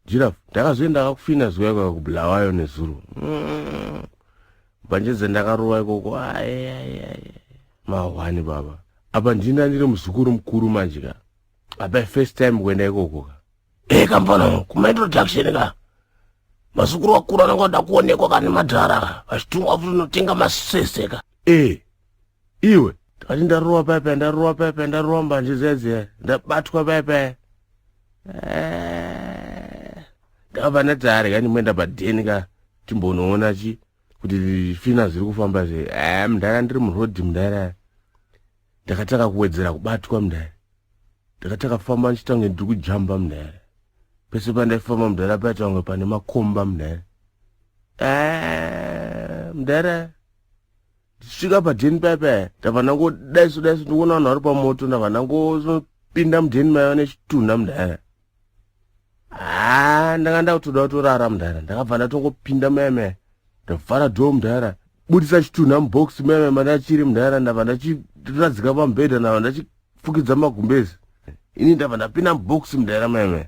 Giraffe, ndakazoenda kakufina zuva ikoko kuBulawayo nezuro. Mm. Mbanje dzandakarova ikoko. Mahwani baba. Apa ndina ndiri muzukuru mukuru manje ka. Apa first time kuenda ikoko ka. Eh kambana, kuma introduction ka. Mazukuru wakura nanga ndakuonekwa kana madhara. Vachitumwa futi notenga masese ka. Eh. iwe ndikati ndarowa paya paya ndarowa paya paya ndarowa mbanje dziya dziya ndabatwa paya paya eh, ndakabva ndati ari kani moenda padheni ka timbonoona chi kuti fina zviri kufamba zve eh, mdhara ndiri murodhi mdhara ndakatanga kuwedzera kubatwa mdhara ndakatanga kufamba ndichitange ndiri kujamba mdhara pese pandaifamba mdhara paitange pane makomba mdhara eh, mdhara tichisvika padheni paya paya ndabva ndangodaiso daiso ndikuona vanhu vari pamoto ndabva ndangopinda mudheni maiva nechitunha mudhara haa ndanga ndakutoda kutorara mudhara ndakabva ndatongopinda maya maya ndavhara dhoo mudhara budisa chitunha mubox maya maya mandachiri mudhara ndabva ndachiradzika pamubhedha ndabva ndachifukidza magumbezi ini ndabva ndapinda mubox mudhara maya maya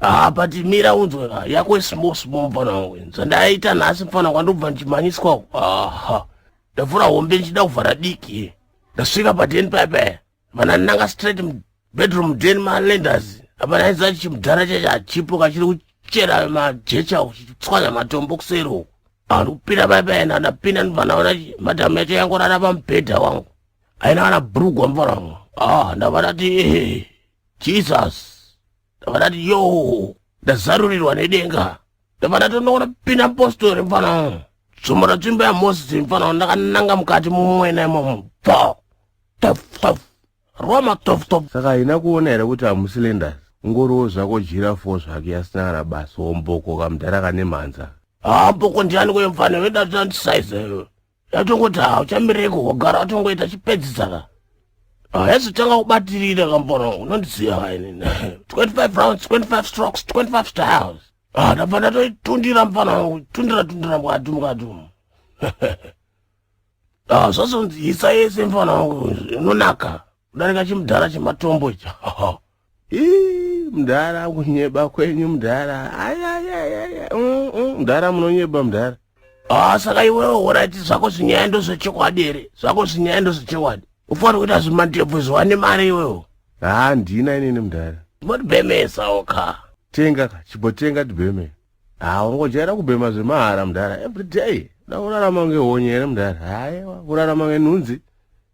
haa ah, but mira unzwe ka yako ismall small mfana wangu zvandaita nhasi mfana kwandobva ndichimhanyiswa ku aha ndavhura hombe ndichida kuvhara diki ndasvika padeni paipa vana ndinanga straight mubedroom den malenders apa ndaidza chimudhara chacho hachipo kachiri kuchera majecha kuchitswanya matombo kuseri uku andikupinda paipa ena ndapinda ndivana vana madhamu yacho yangorara pamubhedha wangu aina vana brugwa mfana wangu ah ndavana ti jesus ndabva ndati yo ndazarurirwa nedenga ndabva ndatonoona pina postori mfana tsumo ratsvimbo yamosisi mfana ndakananga mukati mumwena imomo bvo tofutofu roma tofutofu saka haina kuona here kuti hamusilenders ungoriwo zvako jira fo zvake yasina kana basa womboko kamudhara kane mhanza hamboko ndiani kuye mfana vedatandisaizeyo yatongoti ha uchamireko wagara watongoita chipedzisaka haizotanga kubatirira kambono unondiziva haini 25 rounds 25 strokes 25 styles ah, ndabva ndatoitundira mfana wangu tundira tundira mukati mukati umu ah, zvazonzi isa yese mfana wangu unonaka kudarika chimudhara chematombo icha Ii, mdhara kunyeba kwenyu mdhara ayayayaya mm, mm, mdhara munonyeba mdhara ah saka iwewe urati zvako zvinyaya ndozvechokwadi here zvako zvinyaya ndozvechokwadi ufanira kuita zvimandebvu zviwane mari iwewo haa ndina inini mdhara motibhemesawo ka tenga ka chibotenga tibheme haa ungojaira kubhema zvemahara mdhara everyday da kurarama ngehonye here mdhara hayewa kurarama ngenhunzi